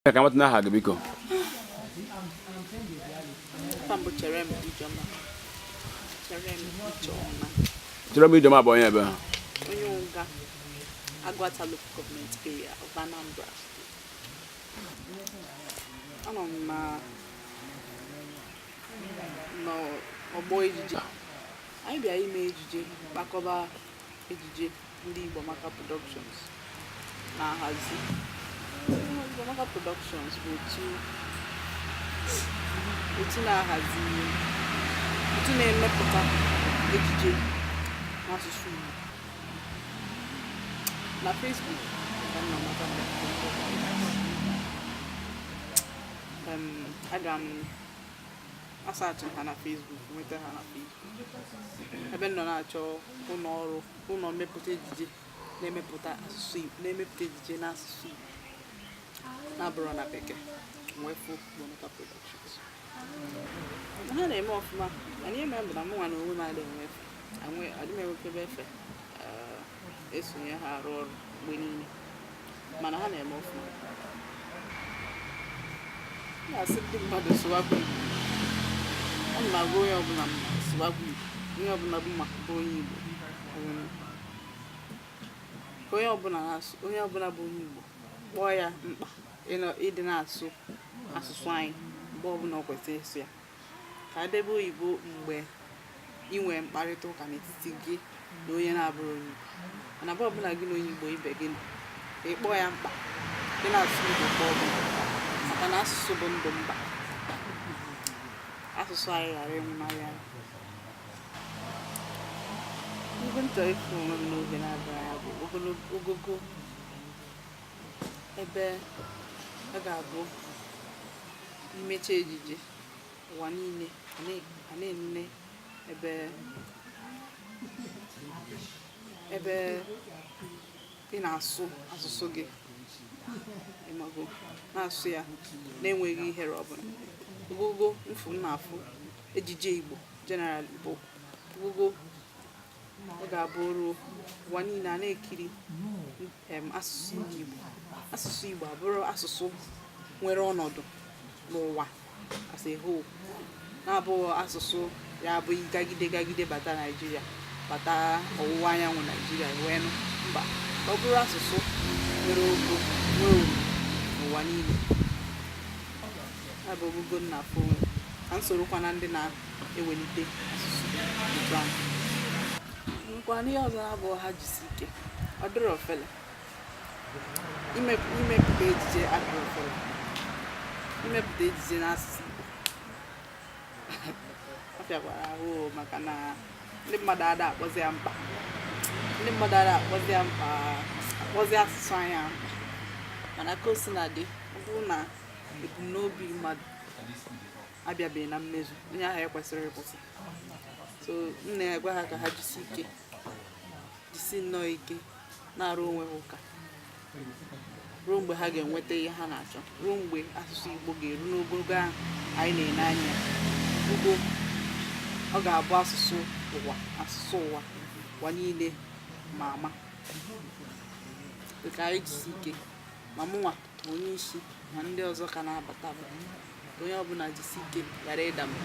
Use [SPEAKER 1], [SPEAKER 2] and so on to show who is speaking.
[SPEAKER 1] ka m mata aha gị
[SPEAKER 2] biko Cherem Ijeọma
[SPEAKER 1] bụ onye ebee onye Uga
[SPEAKER 2] Aguata local government area of Anambra. Anọ m na n'ọgbọ ejije. Anyị bịara ime ejije kpakọba ejije ndị Igbo Maka Productions na-ahazi Igbo Maka Productions bụ otu otu na-ahazi otu na-emepụta ejije n'asụsụ Igbo na Facebook aga m asaachị ha na Facebook nweta ha na Facebook ebe m nọ na-achọ ụlọ ọrụ ụlọ mmepụta ejije na-emepụta asụsụ Igbo na-emepụta ejije n'asụsụ Igbo na-abụrọ na bekee wee fụ Igbo Maka Productions ha na-eme ọfụma mana ihe mere bụ na mụ nwa na onwe m adịghị enwe efe adịghị m enwekebe efe esonye ha arụ ọrụ mgbe niile mana ha na-eme ọfụma na-asị ndị mmadụ sụwakwa Igbo ana m agwa onye ọbụla sụwakwa Igbo onye ọbụla bụ maka bụ onye Igbo onye ọbụla na-asụ onye ọbụla bụ onye Igbo kpọọ ya mkpa ịdị na-asụ asụsụ anyị mgbe ọbụla ọ kwesịrị ịsụ ya ka e debe oyibo mgbe ị nwere mkparịta ụka n'etiti gị na onye na-abụrọ onye Igbo mana mgbe ọbụla gị na onye Igbo ibe gị nọ ka ị kpọọ ya mkpa ịdị na-asụ Igbo kpọọ gị maka na asụsụ bụ ndụ mba asụsụ anyị ghara ịnwụnahụ anyị ebe m chọrọ ịfụ onwe m n'oge na-abịa ya bụ ogogo ebe ọ ga-abụ i mecha ejije ụwa niile a na- a na-enene ebe ebe ị na-asụ asụsụ gị ị mago na-asụ ya na-enweghị ihere ọbụla ogogo m fụ m na-afụ ejije Igbo general bụ ogogo ọ ga-abụ oru ụwa niile a na-ekiri asụsụ ndị Igbo asụsụ Igbo abụrụ asụsụ nwere ọnọdụ n'ụwa as a whole na-abụghị asụsụ ya abụ gagide gagide bata Naijiria bata ọwụwa anyanwụ Naijiria wee nụ mba ọ bụrụ asụsụ nwere ogo nwee uru n'ụwa niile ya bụ ogogo m na-afụ onwe m ka m sorokwa na ndị na ewelite asụsụ Igbo ahụ nkwa n'ihe ọzọ ha bụ ha jisi ike ọ dịrọ ofele imepụta ejije adịrọ ofele imepụta ejije n'asụsụ Igbo ọ fịakwara ahụ maka na ndị mmadụ ada akpọzi ya mkpa akpọzi asụsụ anyị mkpa mana ka o si na dị ọ bụrụ na ebumnobi mmadụ abịabeghị na mmezu onye ahụ ekwesịrọ ịkwụsị so m na-agwa ha ka ha jisi ike jisi nnọọ ike na-arụ onwe ha ụka ruo mgbe ha ga-enweta ihe ha na-achọ ruo mgbe asụsụ Igbo ga-eru n'ogogo ahụ anyị na-ele anya mgbe ọ ga-abụ asụsụ ụwa asụsụ ụwa ụwa niile ma ama ka anyị jisi ike ma mụnwa onye isi na ndị ọzọ ka na-abata onye ọbụla jisi ike ghara ịda mba